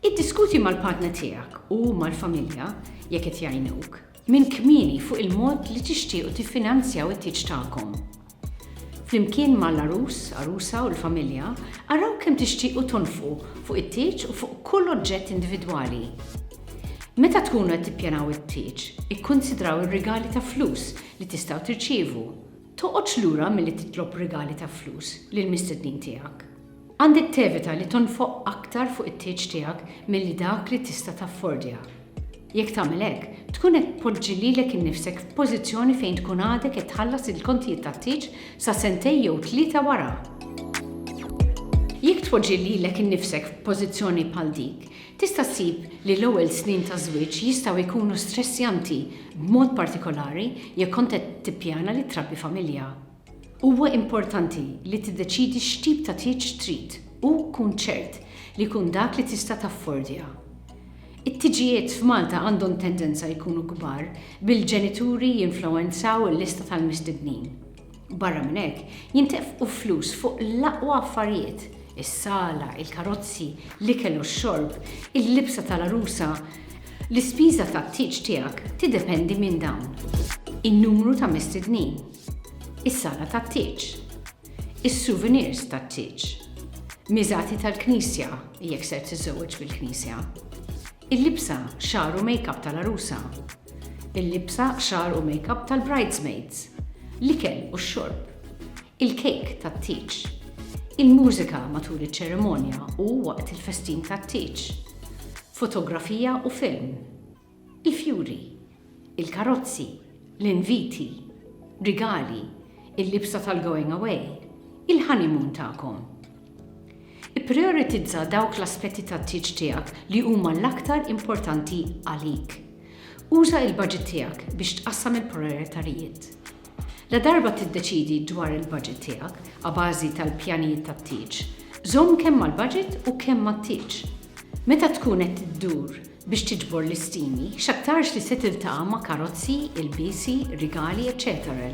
Iddiskuti mal-partner tiegħek u mal-familja jekk qed jgħinuk minn kmieni fuq il-mod li tixtiequ tiffinanzjaw it-tieġ tagħkom. Flimkien mal-għarus, għarusa u l-familja, araw kemm tixtiequ tonfqu fuq it-tieġ u fuq kull oġġett individwali. Meta tkunu qed tippjanaw it-tieġ, ikkunsidraw ir-rigali ta' flus li tistgħu tirċievu. Toqgħodx lura milli titlob rigali ta' flus lill-mistednin tiegħek. Għandek tevita li tonfoq aktar fuq it-tieġ tiegħek milli dak li tista' taffordja. Jekk tagħmel hekk, tkun qed tpoġġi lilek innifsek f'pożizzjoni fejn tkun għadek qed tħallas il-kontijiet tat-tieġ sa sentejn jew tlieta wara. Jekk tpoġġi lilek innifsek f'pożizzjoni bħal dik, tista' ssib li l-ewwel snin ta' żwieġ jistgħu jkunu stressjanti, b'mod partikolari jekk kont qed tippjana li trabbi familja. Huwa importanti li tiddeċiedi x'tip ta' tieġ trid u kun ċert li jkun dak li tista' taffordja. It-tiġijiet f'Malta għandhom tendenza jkunu kbar bil-ġenituri jinfluwenzaw il-lista tal-mistednin. Barra minn hekk, jintefqu flus fuq l-aqwa affarijiet, is-sala, il-karozzi, l-ikel u x-xorb, il-libsa tal-għarusa. L-ispiża tat-tieġ tiegħek tiddependi minn dawn. In-numru ta' mistednin. is-sala tat-tieġ, is-souvenirs tat-tieġ, miżati tal-knisja, jekk ser tiżżewweġ fil-knisja, il-libsa, xagħar u makeup tal-għarusa, il-libsa, xagħar u makeup tal-bridesmaids, l-ikel u x-xorb, il-kejk tat-tieġ, il-mużika matul iċ-ċerimonja u waqt il-festin tat-tieġ, fotografija u film, Il-fjuri, il-karozzi, l-inviti, rigali, il-libsa tal-going away, il-honeymoon tagħkom. Ipprijoritizza dawk l-aspetti tat-tieġ tiegħek li huma l-aktar importanti għalik. Uża il-baġit tiegħek biex tqassam il-prijoritarijiet. Ladarba tiddeċiedi dwar il-baġit tiegħek abażi tal-pjanijiet tat-tieġ, żomm kemm mal-baġit u kemm mat-tieġ. Meta tkun qed iddur biex tiġbor listini, x'aktarx li se tiltaqa' ma' karozzi, ilbiesi, rigali, eċċetera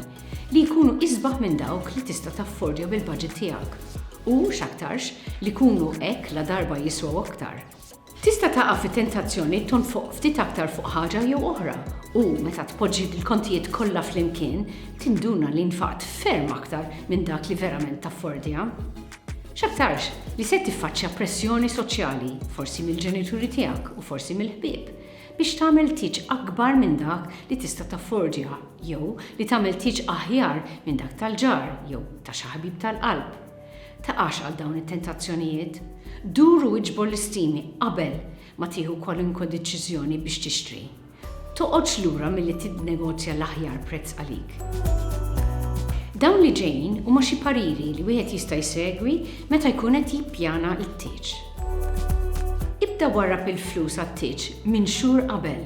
li jkunu isbaħ minn dawk li tista' taffordja bil-baġit tiegħek u, x'aktarx, li jkunu hekk ladarba jiswew aktar. Tista' taqa' fit-tentazzjoni tonfoq ftit aktar fuq ħaġa jew oħra u, meta tpoġġi l-kontijiet kollha flimkien, tinduna li nfaqt ferm aktar minn dak li verament taffordja. X'aktarx li se tiffaċċja pressjoni soċjali, forsi mill-ġenituri tiegħek u forsi mill-ħbieb, biex tagħmel tieġ akbar minn dak li tista' taffordja jew li tagħmel tieġ aħjar minn dak tal-ġar jew ta' xi ħabib tal-qalb. Taqax għal dawn it-tentazzjonijiet. Dur u iġbor l-istimi qabel ma tieħu kwalunkwe deċiżjoni biex tixtri. Toqgħodx lura milli tinnegozja l-aħjar prezz għalik. Dawn li ġejjin huma xi pariri li wieħed jista' jsegwi meta jkun qed jippjana t-tieġ. Ibda warrab il-flus għat-tieġ minn xhur qabel.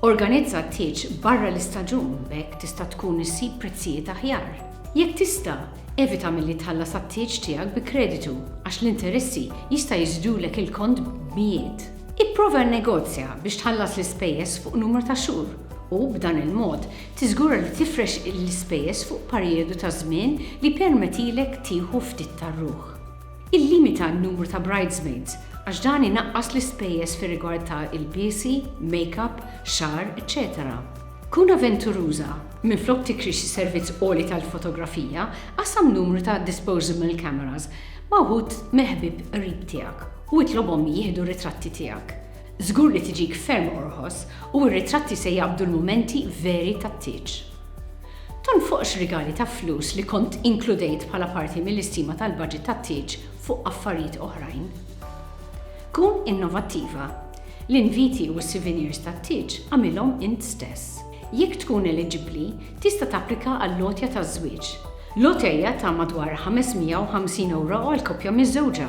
Organizza t-tieġ barra l-istaġun b'hekk tista' tkun issib prezzijiet aħjar. Jekk tista', evita milli tħallas għat-tieġ tiegħek bi kreditu għax l-interessi jista' jiżdulek il-kont b'mijiet. Ipprova nnegozja biex tħallas l-ispejjeż fuq numru ta' xhur u, b'dan il-mod, tiżgura li tifrex l-ispejjeż fuq parijodu ta' żmien li jippermetilek tieħu ftit tar-ruħ. Illimita n-numru ta' bridesmaids għax dan inaqqas l-ispejjeż fir-rigward ta' ilbiesi, makeup, xagħar, eċċetera. Kun aventuruża, minflok tikri xi servizz għoli tal-fotografija, qassam numru ta' disposable cameras ma' wħud mill-ħbieb qrib tiegħek. u itlobhom jieħdu r-ritratti tiegħek. Żgur li tiġik ferm orħos u r-ritratti se jaqbdu l-mumenti veri tat-tieġ. Tonfoqx rigali ta' flus li kont inkludejt bħala parti mill-istima tal-baġit tat-tieġ fuq affarijiet oħrajn. Kun innovattiva. L-inviti u s-sivinirs tat-tieġ agħmilhom int stess. Jekk tkun eliġibbli, tista' tapplika għall-għotja taż-żwieġ. Lotteja ta' madwar 550 ewro għall-koppja miżżewġa.